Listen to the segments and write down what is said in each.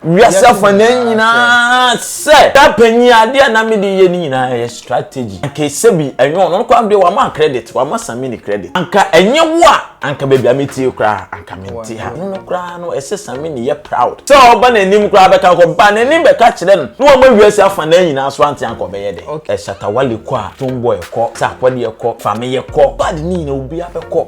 Wiase afanan nyinaa sɛ. Da panyin adeɛ a na mede yɛ ne nyinaa ɛyɛ strategy. Anka esebi ɛnyɛ ɔno koraa deɛ wama credit wama Samini credit. Anka ɛnyɛ wo a anka baabi a metie koraa anka mente ha. Ɛno no koraa no ɛsɛ Samini yɛ proud sɛ ɔba n'anim koraa bɛka kɔ ba n'anim bɛka kyerɛ no na wama wiase afanan nyinaa so ante anka ɔbɛyɛ dɛn. Ɛ Shatta Wale kɔ a, Stonebwoy kɔ, Sarkodie kɔ, Fameye kɔ, bad ne nyinaa obiara bɛkɔ.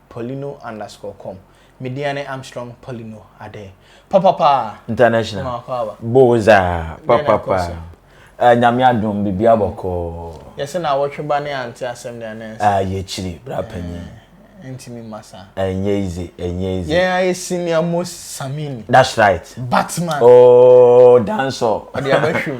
Paulino underscore com me deɛ ne Armstrong Paulino adɛn papapaa International ma akɔ aba boza papapaa uh, nyame adom bibia mm. bɔkɔɔ yɛsɛ na awɔtwe ba ne ante asɛm de anɛ nsa ah, yɛkyiri bra panyin eh, ntumi mma saa ɛnyɛ ize ɛnyɛ ize yɛn ayɛ senior most samini that's right batman oh danso ɔde abɛhwɛ mu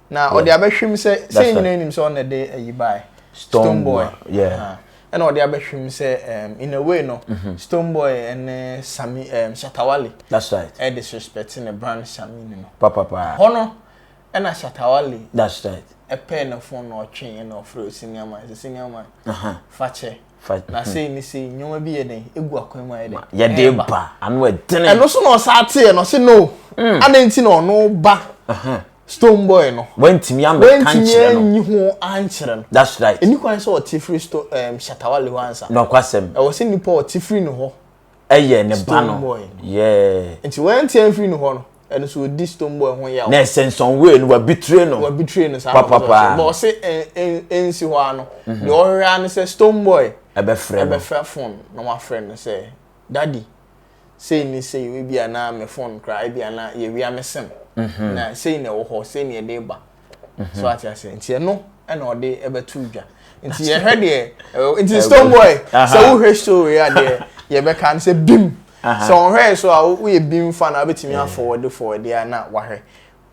na ɔde abɛhwim sɛ sɛ yɛn nyinaa nim sɛ ɔna de ayi bae stone boy yeah ɛna ɔde abɛhwim sɛ um, in a way no mm-hmm. stone boy ɛne sami um, shatawale that's right ɛde suspect ne brand sami no papapa hɔ no ɛna shatawale that's right ɛpɛɛ ne fon na ɔtwe ɛna ɔfrɛ osenia man sɛ senia man uh-huh. fakyɛ na sei ne sei nneɛma bi yɛ dɛn egu akwan mu ayɛ dɛn yɛde ba ano ɛdene ɛno so na ɔsa ateɛ no ɔse no mm. adan ti na ɔno ba uh-huh. stone boy no. wantumi amɛka nkyerɛ no. wantumi anyi ho ankyerɛ no. that's right. ɛni kwan sɛ ɔte firi sto ɛɛm um, shatawale hɔ ansa. nɔkwasɛm. ɛwɔ sɛ nipa ɔte firi ne hɔ. ɛyɛ ne ba no. stone boy. yɛɛ. nti wɔnte firi ne hɔ no ɛno so odi stone boy ho yaw. na ɛsɛ nsɔnwee no wabitire no. wabitire no saa papapaa. bɔn ɔse ɛnsi hɔ ano. Mhm. deɛ ɔhwɛ ano sɛ stone boy. ɛbɛfrɛ no ɛbɛfrɛ fon na wafrɛ no sɛ dadi. sei ne sei o, ebia na me phone koraa ebia na yɛwia me sim na sei na ɛwɔ hɔ, sei na yɛde reba. So ate aseɛ nti ɛno ɛna ɔde ɛbɛto dwa nti yɛhwɛ deɛ nti stone boy sɛ wohwɛ story a deɛ yɛbɛka no sɛ bim sɛ ɔhwɛɛ so a woyɛ bim fa na wobɛtumi afɔwɔde fɔwɔde a na wahwɛ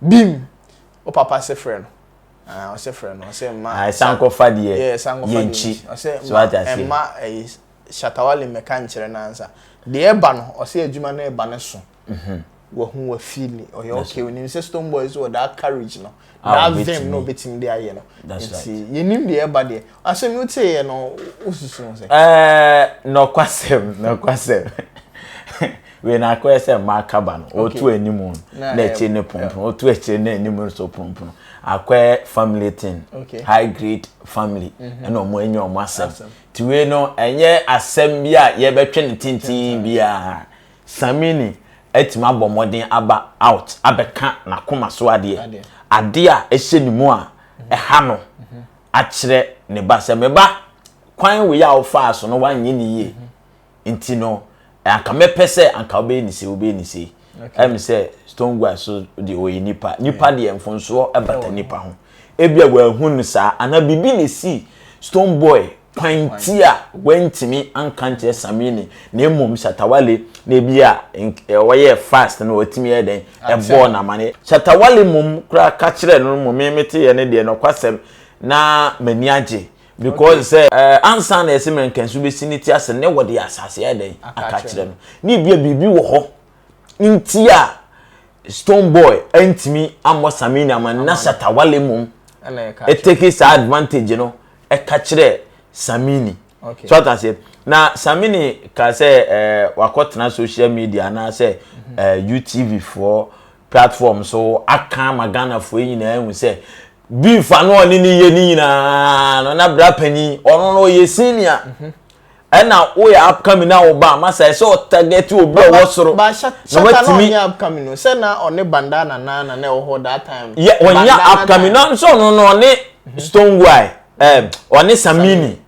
bim wo papa se frɛ no ɔsɛ frɛ no ɔsɛ mma sankɔfa deɛ yɛnkyi so ate aseɛ mma Shatta Wale mmɛka nkyerɛ no ansa. Deɛ ɛba no, ɔse adwuma no reba no so. Wahu, wafeeli, ɔyɛ okay. Wonim sɛ Stonebwoy nso wɔ that courage no, ah, that vim no obetumi de ayɛ no. Nti yɛnim deɛ ɛba deɛ. Asɛm yi woteeɛ no, wosusu ho sɛ? Ɛɛ, nɔkwasɛm, nɔkwasɛm. Wei na akɔyɛ sɛ mmaa kaba no, wotu anim no, na akyire no ponopono, wotu akyire na anim no so ponopono. Akɔyɛ family thing, high grade family, ɛna wɔn anya wɔn asɛm. Tue no nyɛ asɛm bi a yɛbɛtwe no tenten biara. Samini atumi abɔ mmɔden aba out abɛka n'akoma so adeɛ, adeɛ a ɛhyɛ ne mu a ɛha no, akyerɛ ne ba sɛ, Me ba, kwan wei a wofaa so no, woanyɛ no yie. nti no anka mɛpɛ sɛ anka wobɛyɛ ne sei wobɛyɛ ne sei ɛm sɛ stone guy so deɛ ɔyɛ nipa nipa deɛ mfonsoɔ ɛbata nipa ho ebia wɔahu no saa anaa biribi na ɛsi stone boy kwan ti a wantumi anka nkyerɛ samini na mmom shatawale na ebi a ɔyɛ fast na watumi yɛ dɛn ɛbɔɔ n'amane shatawale mmom koraa ka kyerɛ no mmom meteeɛ no deɛ nɔkwasɛm na m'ani agye Because sɛ ansa na yɛse mɛnkansu bɛsi ne ti ase ne wɔde asase ayɛ dɛn aka kyerɛ no ne ebia biribi wɔ hɔ nti a stone boy antumi ammɔ samini ama no na shatawale mmom ɛteki saa advantage no ɛka kyerɛ samini so ata aseɛ na samini ka sɛ wakɔtena social media anaasɛ utv foɔ platform so aka ama ghanafoɔ nyinaa hu sɛ Beef a na ɔne ne yɛ ne nyinaa no na bra panyin ɔno no ɔyɛ senior mhm. ɛna woyɛ upcoming na wo ba ama sɛ ɛsɛ ɔtarget obi a ɔwɔ soro na watumi ɔnyɛ upcoming no sɛ na ɔne bandana na na na ɛwɔ hɔ that time yɛ ɔnyɛ upcoming na nso ɔno no ɔne mhm. stone guy mhm. ɛɛ ɔne samini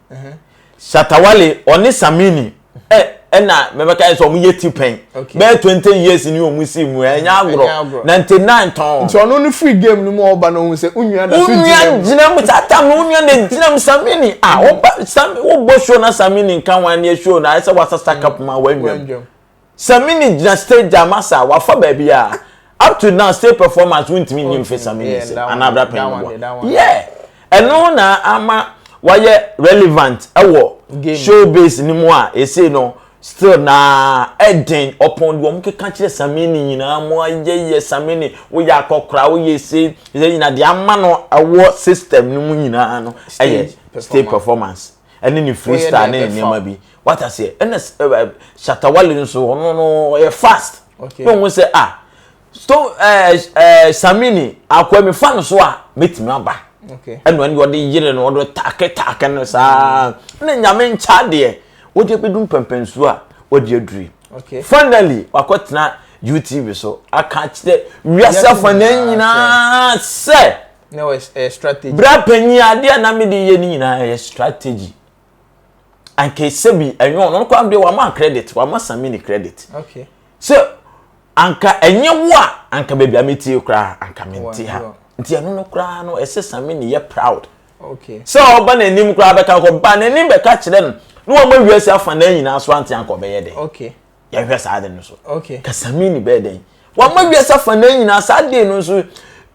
Shatta Wale ɔne Samini ɛ ɛna mɛbɛka yɛ sɛ ɔmo yɛ ti pɛn bɛyɛ twenty years ni ɔmo si mu ɛnyɛ agorɔ ninety nine tɔn. nti ɔno no free game no mu ɔba na ohun sɛ onua da so gyina mu onua gyina mu saa tam no onua na gyina mu Samini a ɔba Samini wobɔ show na Samini nka ho ɛni show na ayɛ sɛ wasasa cup ma wɔn nwam Samini gyina stage gya masa wafa baabi a up to now stage performance wontumi nyi mfe Samini nsam yeah, anaa abira panyin boɔ yeah ɛno na ama wayɛ relevant ɛwɔ showbiz ni mu a ese no still na ɛden ɔpɔn deɛ wɔn keka kyerɛ Samini nyinaa mo ayɛ yɛ Samini woyɛ akɔkora woyɛ se ɛyɛ nyinaa deɛ ama no ɛwɔ system no mu nyinaa no ɛyɛ stage performance. ɛne ne freestyle ne nneɛma bi wata seɛ ɛna shatawale nso ɔno no ɔyɛ fast ne ɔmo sɛ a ah, stone ɛɛ eh, ɛɛ eh, samini akɔɛ mi fa no so a mɛtumi aba ɛna ɛna ɔde yere no ɔde taake taake no saa mm. ne nyame nkya deɛ wɔde ebi dum pɛmpɛnsuo a wɔde aduri finally wakɔ tena utv so aka kyerɛ wiase afɔ ne nyinaa sɛ. na ɛyɛ strategy. bra panyin ade a na mede yɛ ne nyinaa ɛyɛ strategy anka ɛsɛ bi ɛnyɛ ɔno no kwan deɛ wama credit wama sami ne credit okay sɛ anka ɛnyɛ wo a anka baabi a metie koraa anka mente ha nti ɛno no koraa no ɛsɛ sami ne yɛ proud okay sɛ ɔba n'anim koraa bɛka kɔ ba n'anim bɛka kyerɛ no na wɔn awia si afa na nyinaa so ante anka ɔbɛyɛ dɛ okay yɛhwɛ saa de no so okay ka sami ne bɛyɛ dɛ wɔn awia si afa na nyinaa saa de no nso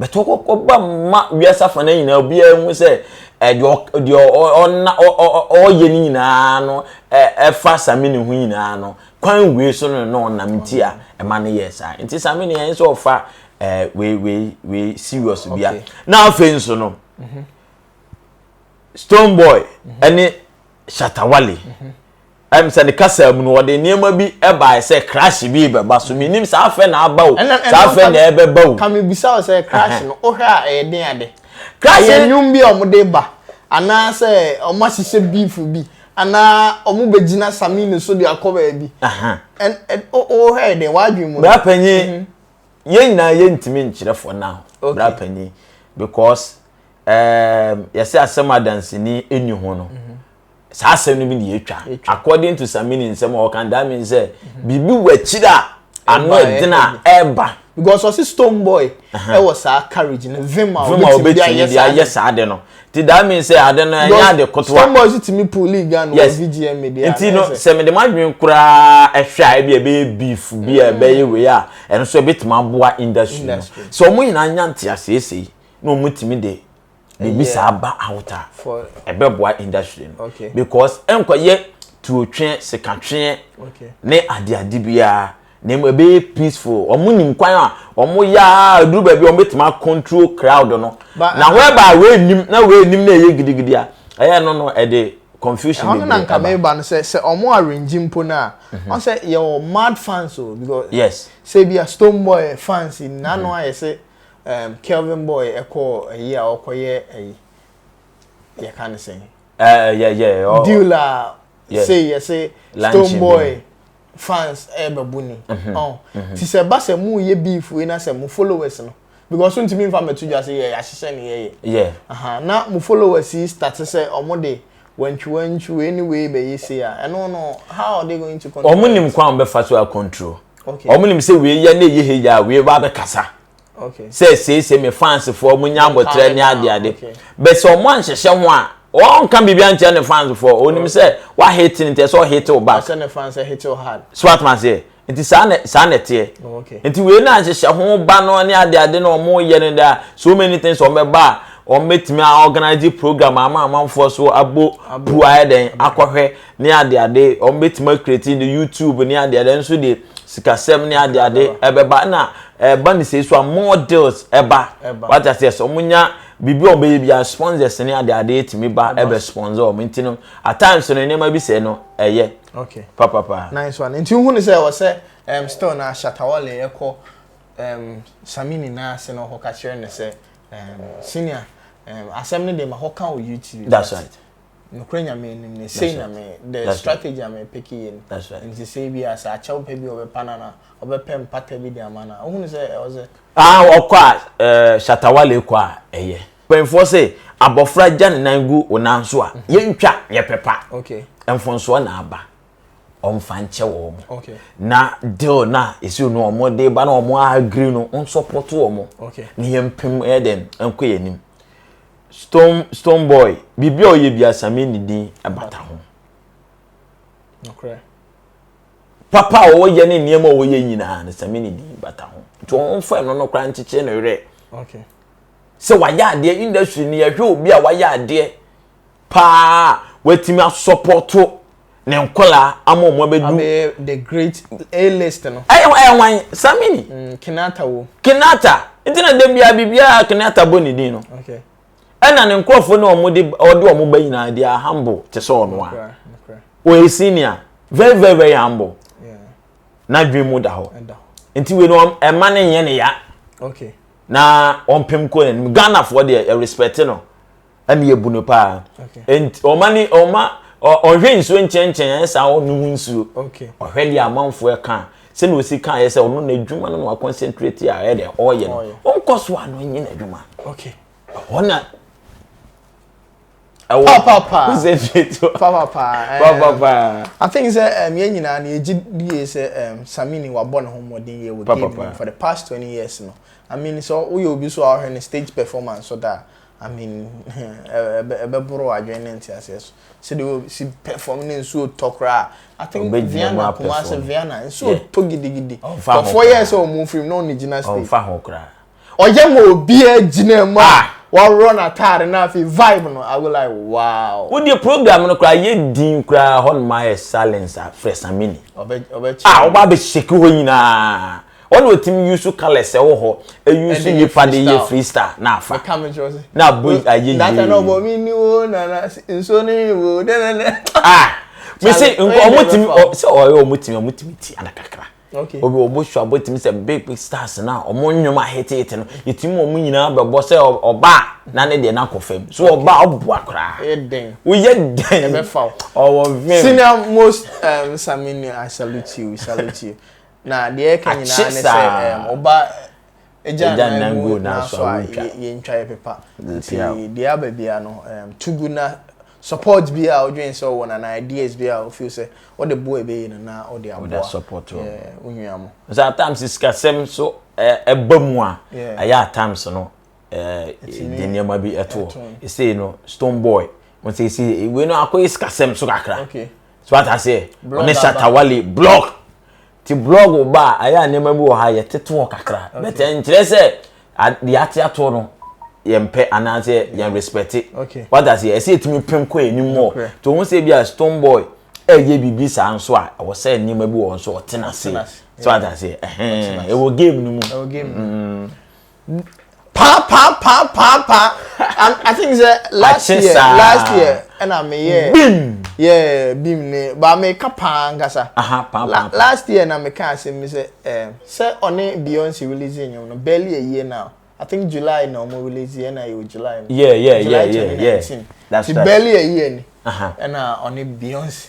bɛtɔ kɔkɔ ba ma wiase afa no nyinaa obiara hu sɛ deɛ deɛ ɔna ɔyɛ no nyinaa no ɛfa samini ho nyinaa no kwan wei so no na ɔnam nti a ɛma no yɛ saa nti samini yɛn sɛ ɔfa wei wei wei serious bia na afei nso no mhm. stone boy ɛne mhm. shatawale mhm. Ayɛ me sɛ ne kasa mu no, wɔde nneɛma bi baeɛ sɛ crash bi rebɛba, so mennim saa afɛ na aba o, saa afɛ na ɛrebɛba o. Ka mebisa wo sɛ crash no, wohwɛ a ɛyɛ den ade? Crash no. Ɛyɛ nnwom bi a wɔde reba, anaa sɛ wɔahyehyɛ beef bi, anaa wɔbɛgyina Samini so de akɔ baabi. Wohwɛ yɛ den, w'adwene mu no. Bra panyin, yɛn nyinaa yɛntumi nkyerɛ for now, bra panyin, because yɛsɛ asɛm a danseni nni ho no, saa asɛm no bi na yɛtwa according to samini nsɛm a ɔka that means sɛ mhm. biribi wɔ akyiri a ano ɛden a ɛreba because ɔsi stone boy ɛwɔ saa courage no vim a obetumi de ayɛ saa de no ti that means sɛ ade no ɛnyɛ ade kotoa stone boy si timi pull league ano wɔ vgm media nti no sɛ mede ma adwene koraa ɛhwɛ a ebi ɛbɛyɛ beef bi a ɛbɛyɛ mm. wei a ɛno nso ɛbɛtumi aboa industry no sɛ wɔn nyinaa nya nteaseesei na wɔn tumi de biribi saa ba out a ɛbɛboa industry no okay. because ɛnkɔyɛ tuotwe sekatwe okay. ne adeade biara na emu ɛbɛyɛ peaceful wɔn nim kwan a wɔn yɛ a duru baabi wɔn bɛtumi akontrol crowd no na whereby wei nim na wei nim na ɛyɛ gidigidi a ɛyɛ no no ɛde confusion bebree ɛba ɛhɔ no na nka meba no sɛ sɛ wɔn arrange mpo no a mhm. wɔn sɛ yɛ wɔ mad fans o because yes sɛ bi a stone boy fans nyinaa no mhm. ayɛ sɛ Ɛɛm Kelvin boy ɛkɔɔ ɛyi a ɔkɔyɛ ɛyi yɛka ne sɛn. Ɛɛ yɛ yɛ ɔ. Deal a sei yɛse stone boy fans ɛɛbɛbu ni. Mhm, ɔn mhm. ti sɛ ɛba sɛ mo yɛ beef wei na sɛ mo followers no because ntumi nfa mɛto dwa sɛ yɛ yahyehyɛ ne yɛyɛ. Yɛ. Ahaa na mo followers yi starte sɛ ɔmo de. Wantwi wantwi wei ne wei bɛyɛ sei a ɛno no how are they going to control. Wɔn nim kwan a wɔbɛfa so a control. Okay. Wɔn nim sɛ wei yɛ na ɛyɛ hɛ yɛ a wei ba abɛkasa. Okay. Sɛ seesei me fansfoɔ mo nya abɔtrɛ ne ade ade. Okay. Bɛsɛ wɔn anhyehyɛ ho a ɔnka biribi ankyerɛ ne fans fo ɔnim sɛ wahete ne ntɛ sɛ ɔhete wo back ɔsɛ ne fans hete wo hard so atoma seɛ nti saa na saa na ɛteɛ oh, nti wei na nhyehyɛ ho ba no ne ade ade na wɔn yɛ no da so many things wɔn bɛba a wɔn bɛtumi a organize program ama amanfoɔ so abo pu ayɛ dɛn akɔhwɛ ne ade ade wɔn bɛtumi akireti ne youtube ne ade ade nso de sikasɛm ne ade ade ɛbɛba na ɛba ne sɛ so a more deals ɛba wata sɛ sɛ wɔn nya biribi a wɔn bɛyɛ bi a sponsors ne ade ade etumi ba ɛbɛ sponsor wɔn nti no at times no nneɛma bi sɛ no ɛyɛ. okay papapa nice one nti wohu ne sɛ ɛwɔ sɛ um, still na shatawale ɛkɔ um, sami nyinaa ase na ɔkɔka kyerɛ no sɛ um, senior um, asɛm no de ma hɔka wɔ youtube that's right nokorɛ nyame anim ne sei na me the strategy a mepeke yɛ ni nti sɛ bi a sɛ akyɛw pɛ bi ɔbɛpa no na ɔbɛpɛ mpata bi de ama no wohu ne sɛ ɛwɔ sɛ ah, ɔkɔ a eh, shatawale kɔ a ɛyɛ Mpanyinfoɔ se abɔfra gya ne nan gu wo nan so a, yɛntwa yɛ pɛ pa. Mfonsoɔ na aba. Ɔmfa nkyɛ wɔn. Na deal na ɛsi no wɔn de ba na wɔn agree no, wɔn support wɔn. Na yɛn pem yɛ dɛn nkɔ yɛn anim. Stone Stone Boy, biribi a ɔyɛ bi asame ne din ɛbata ho. Papa a ɔyɛ ne nneɛma a ɔyɛ nyinaa no same ne din bata ho. Nti wɔn mfa ɛno no koraa nkyekyere no werɛ. sɛ wayɛ adeɛ industry no yɛhwɛ obi a wayɛ adeɛ paa watumi asɔpɔto ne nkɔlaa ama wɔn abɛdu. abɛyɛ the great a list no. ɛyɛ ɛyɛ wan samini. Mm, kenata wo. kenata nti na de bia biribiara kenata bɔ ne din no. okay. ɛna ne nkurɔfoɔ ne wɔn de ɔde wɔn ba nyinaa de humble te sɛ ɔno a. ɔyɛ senior very very very humble. Yeah. n'adwene mu da hɔ. nti wei no ɛma ne nyɛ ne ya. okay. na ɔmpem kɔ n'anim ghanafoɔ deɛ yɛrespɛte no ɛne yɛbu no paa nti ɔma ne ɔma ɔhwɛ nsuo nkyɛnkyɛn ayɛ saa ɔno ho nsuo ɔhwɛ deɛ amanfoɔ ɛka sɛnea ɔsi ka ayɛ sɛ ɔno n'adwuma no na waconcentrate a ɛyɛ deɛ ɔyɛ no ɔnkɔ so a no nyɛ n'adwuma ɛhɔ na ɛwɔ papa sɛ fieto papa paa eh, papa paa i think sɛ um, yɛn nyinaa no yɛgye die sɛ um, samini wabɔ ne ho mmɔden yɛ wɔ game no for the past 20 years no i mean sɛ woyɛ obi so a wohwɛ no stage performance so da i mean ɛbɛboro adwene ne nteaseɛ so sɛdeɛ si perform ne nsuo tɔ koraa i think viana kuma sɛ viana nsuo tɔ gidigidi kɔfoɔ yɛ sɛ ɔmo firim na ɔne gyina stage ɔyɛ ma obiara gyina mu a ah. wɔworɔ n'ataare no afei vibe no i will like wow. wo deɛ program no koraa yɛ din koraa hɔ nom ayɛ silence a frɛ samini a wɔba ah, abɛhyɛki hɔ nyinaa ɔna ɔtumi use colours ɛwɔ hɔ ɛuse nipa de yɛ freestyle na afa na abɔ ayɛ yie data na ɔbɔ mi ni wo nana nsuo ni mi wo dɛdɛdɛ ah mesi nkɔ ɔmo tumi sɛ ɔyɛ ɔmo tumi ɔmo tumi ti ana kakra. Okay. Obi obo sua botimi sɛ big big stars na ɔmo nnwom a hete hete no yɛtumi ma ɔmo nyinaa bɛbɔ sɛ ɔba a na ne deɛ no akɔ fam so ɔba a ɔboa koraa. Ɛyɛ dɛn. Woyɛ dɛn. Ɛbɛfa wo. Ɔwɔ vim. Senior most um, Samini I salute you, we salute you. Na deɛ ɛka nyinaa ne sɛ um, ɔba Egya nnan gu naaso a yentwa yɛpepa ntsi deɛ aba bia no to gu na support bi a odwen sɛ ɔwɔ no anaa ideas bi a ofeel sɛ ɔde boa ebeye no na ɔde aboa wo nua mo. Ɔsɛ at times sikasɛm so ɛba mu a ayɛ at times no de nneɛma bi ɛto hɔ esei no stone boy ɔsɛ esei wei no akɔyɛ sikasɛm so kakra so ata aseɛ ɔne shatawale block Ti blog ba a ɛyɛ a nneɛma bi wɔ ha yɛtete wɔ kakra but ɛnkyerɛ sɛ deɛ ate ato no yɛmpɛ anaasɛ yɛn respect wata sɛ ɛsɛ yɛtumi pem kɔ anim wɔ nti ɔhu sɛ bi a stone boy ɛyɛ biribi saa nso a ɛwɔ sɛ nneɛma bi wɔ nso ɔtena ase so wata sɛ ɛwɔ game no mu paa paa paa paa paa i think sɛ last year last year ɛna mi yɛ bim yɛ bim ne ba mi ka paa nkasa last year na mi ka ase mi sɛ ɛɛ sɛ ɔne beyonce release enyim no barely a year now i think july na ɔmo release yɛ na yɛ wɔ july no yeah yeah yeah yeah yeah that's right ti barely a year ni ɛna ɔne beyonce.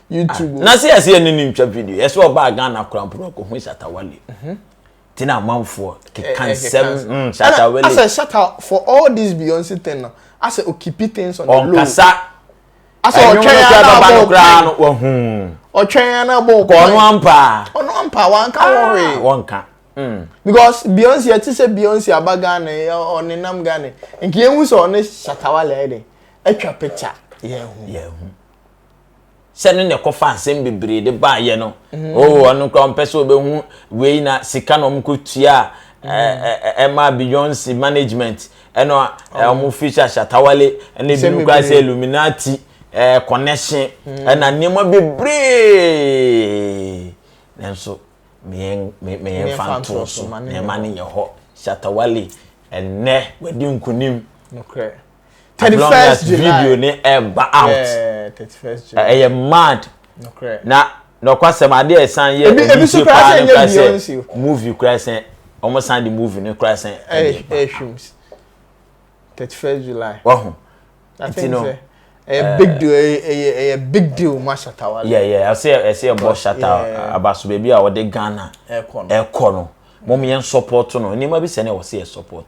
YouTube. Ah, na se yɛse yɛne ne ntwa video yɛse ɔbaa Ghana kora mpo na ɔkɔhu Shatawale mhm. nti na amanfoɔ keka eh, eh, nsɛm mm, Shatawale asɛ Shata for all this Beyonce thing no asɛ okipi things on the low ɔnkasa asɛ ɔtwɛn ya na abɔ ɔkwan no wahu ɔtwɛn ya na abɔ ɔkwan ɔno ampa ɔno ampa wanka wɔhwe ah, wɔnka mm. because Beyonce ɛte sɛ Beyonce aba Ghana ɔnenam Ghana nkeɛ hu sɛ ɔne Shatawale ɛde atwa picture yɛn ho yɛn ho sɛ no na ɛkɔfa asɛm bebree de baayɛ no mm. oh ɔno koraa ɔmpɛ sɛ ɔbɛhu wei na sika na ɔmkɔtua a mm. ɛma beyonce management ɛno a ɔmo oh. fi hyɛ shatawale ɛna ebinom koraa sɛ illuminati connection mm. ɛna nneɛma bebree nanso meyɛmfa ntoɔ so nneɛma no yɛ hɔ shatawale ɛnnɛ wadi nkonim thirty first july video ne ɛba eh, out eh, thirty first july ɛyɛ mad na nɔkwasɛm ade a ɛsan yɛ ebi ebi so kura sɛ ɛnyɛ beyonce movie kura sɛ wɔn san de movie ne kura sɛ ɛyɛ ɛhwim thirty first july wahu nti no ɛyɛ big deal ɛyɛ ɛyɛ big deal ma shatawa yɛ yɛ ɛsɛ ɛsɛ ɛbɔ shatawa abaso beebi a wɔde ghana ɛkɔ no mo yɛn support no nneɛma bi sɛ na wɔsi yɛ support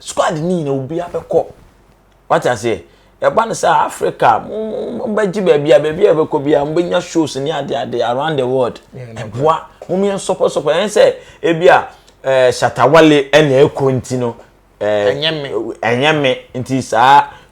Squad no nyinaa obiara bɛkɔ. Wate aseɛ? Ɛba no sɛ Africa mo mo bɛgye baabi a baabi a ɛbɛkɔ bi a mo bɛnya shows ne ade ade around the world. Ɛboa mo yɛn sɔpɔ sɔpɔ ɛn sɛ ebi a ɛɛ shatawale ɛna ɛkɔ nti no ɛɛ ɛnyɛ me ɛnyɛ me nti saa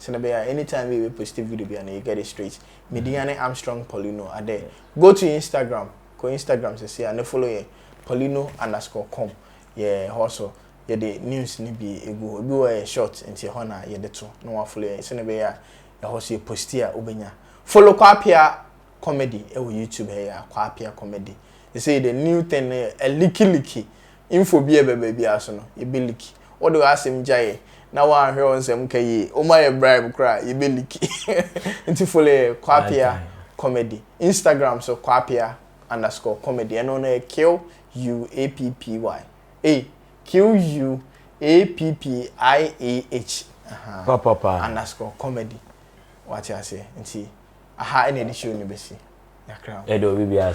sɛnɛ bɛyɛ a anytime bi a yɛbɛ posti video bi a na yɛ get it straight me din ane Armstrong Paulino adɛ go to Instagram kɔ Instagram sɛsei a ne follow yɛ Paulino underscore com yɛ hɔ so yɛde news no bi egu hɔ ebi wɔ hɔ a yɛ short nti ɛhɔ na yɛde to na wa follow yɛn sɛnɛ bɛyɛ a ɛhɔ so yɛ posti a wobɛnya follow Kwapea Comedy ɛwɔ YouTube ha yi a Kwapea Comedy sɛsei the new thing no yɛ a leaky leaky Info bi a ɛba baabiara so no, yɛbɛ liki. Wo de w'asɛm gyaeɛ na woanhwɛ wo nsɛm nka yie. Wo ma yɛ bribe koraa a, yɛbɛ liki. Nti follow yɛ Kwapea Comedy. Instagram so Kwapea underscore comedy. Ɛno no yɛ Q-U-A-P-P-Y. Ei, Q-U-A-P-P-I-A-H. Aha, Papapa. underscore comedy. Wate aseɛ? Nti aha ɛna yɛde show no bɛsi. Yɛakra wo. Yɛde obi biara.